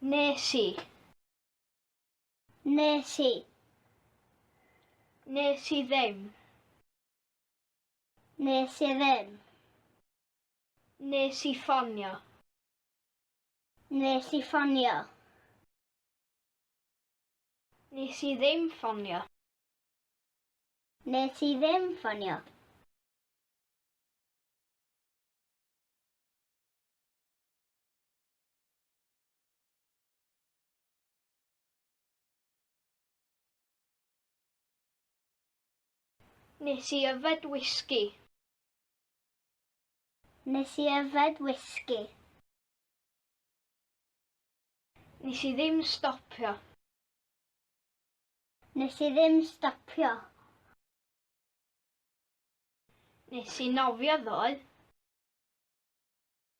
Nes i. Nes i. Nes i ddim. Nes i ddim. Nes i ffonio. Nes i ffonio. Nes i ddim ffonio. Nes i ddim ffonio. Nes i yfed whisky. Nes i yfed whisky. Nes i ddim stopio. Nes i ddim stopio. Nes i nofio ddoe.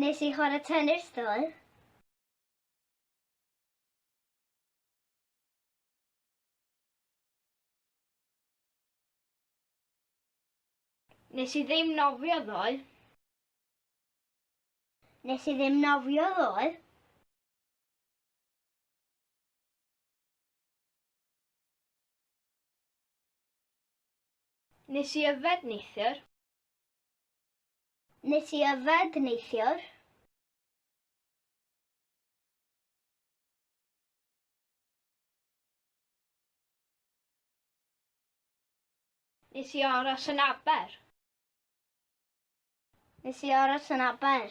Nes i chwarae tennis ddoe. Nes i ddim nofio ddoe. Nes i ddim nofio ddoe. Nes i yfed neithiwr. Nes i yfed neithiwr. Nes i aros yn Aber. Nes i aros yn Aber.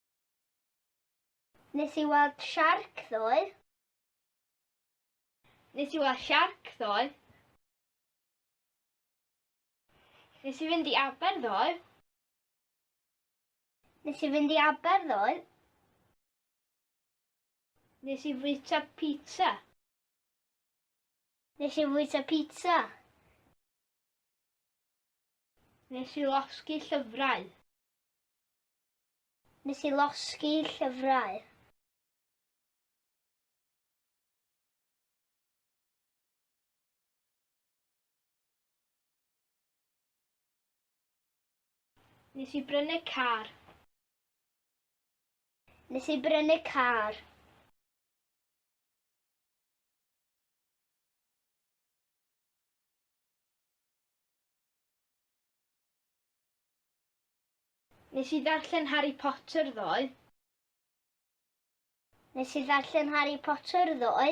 Nes i weld siarc ddoe. Nes i weld siarc ddoe. Nes i fynd i Aber ddoe. Nes i fynd i Aber ddoe. Nes i fwyta pizza. Nes i fwyta pizza. Nes i losgi llyfrau. Nes i losgi llyfrau. Nes i brynu car. Nes i brynu car. Nes i ddarllen Harry Potter ddoe. Nes i ddarllen Harry Potter ddoe.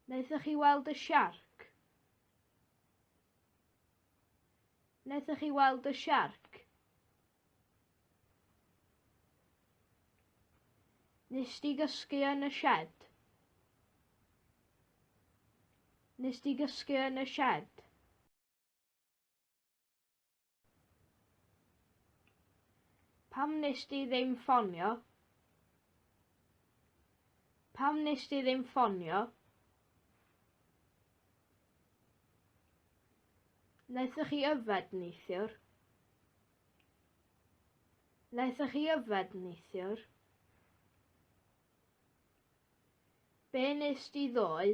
Wnaethoch chi weld y siarc? Wnaethoch chi weld y siarc? Nes di gysgu yn y shed? Nes di gysgu yn y shed? Pam nes di ddim ffonio? Pam nes di ddim ffonio? Naethoch chi yfed neithiwr? Naethoch chi yfed neithiwr? Be nes di ddoe?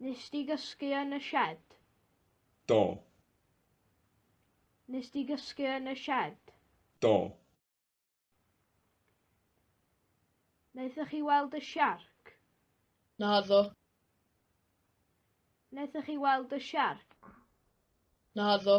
Nes di gysgu yn y shed? Do. Nes di gysgu yn y shed? Do. Naethoch chi weld y siarc? Naddo. Naethoch chi weld y siarc? Naddo.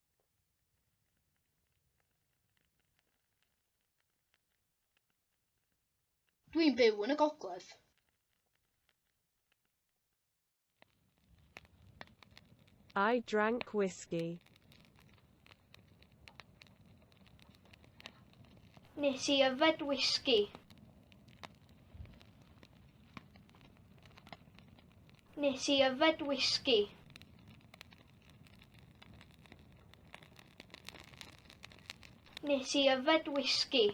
Dwi'n byw yn y gogledd. I drank whiskey. Nes i yfed whisky. Nes i yfed whisky. Nes i yfed whisky.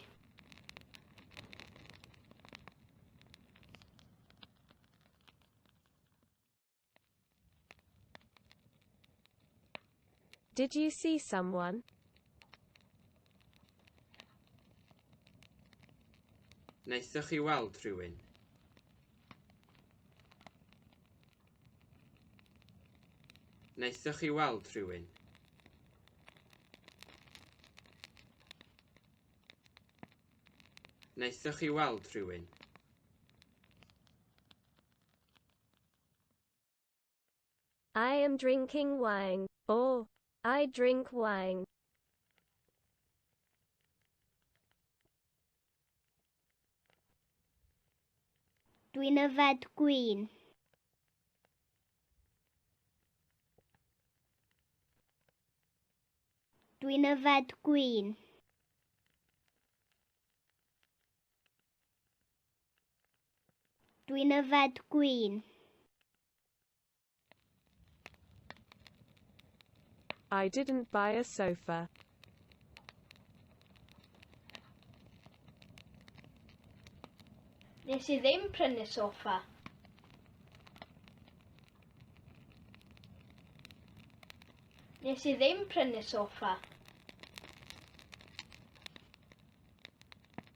Did you see someone? Wnaethoch chi weld rhywun? Wnaethoch chi weld rhywun? Wnaethoch chi weld rhywun? I am drinking wine. O, I drink wine. Dwi'n yfed gwyn. Dwi'n yfed gwyn. Dwi'n yfed gwyn. I didn't buy a sofa. Nes i ddim prynu sofa. Nes i ddim prynu sofa.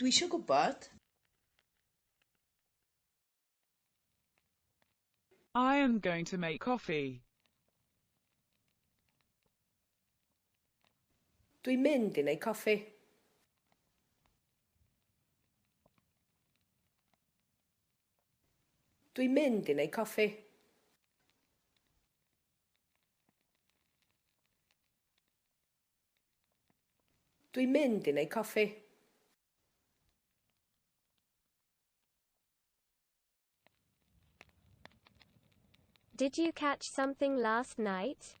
Dwi eisiau gwybod. I am going to make coffee. Dwi'n mynd i wneud coffi. Dwi'n mynd i wneud coffi. Dwi'n mynd i wneud coffi. Did you catch something last night?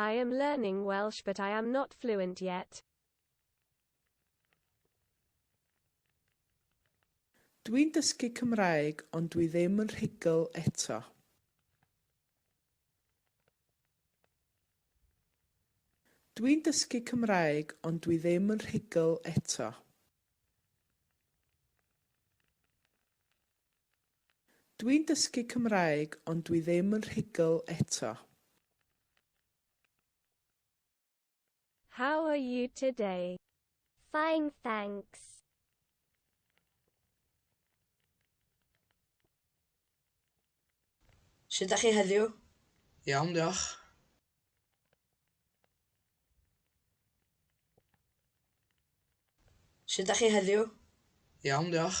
I am learning Welsh but I am not fluent yet. Dwi'n dysgu Cymraeg ond dwi ddim yn rhugl eto. Dwi'n dysgu Cymraeg ond dwi ddim yn rhugl eto. Dwi'n dysgu Cymraeg ond dwi ddim yn rhugl eto. How are you today? Fine thanks. Sut dach chi heddiw? Iawn diolch. Sut dach chi heddiw? Iawn diolch.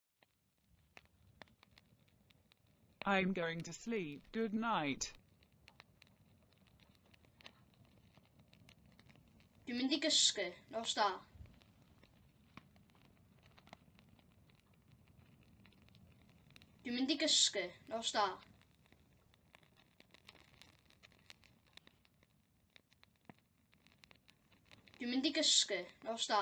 I'm going to sleep, good night. Dwi'n mynd i gysgu, nos da. Dwi'n mynd i gysgu, nos da. Dwi'n mynd i gysgu. Nos da.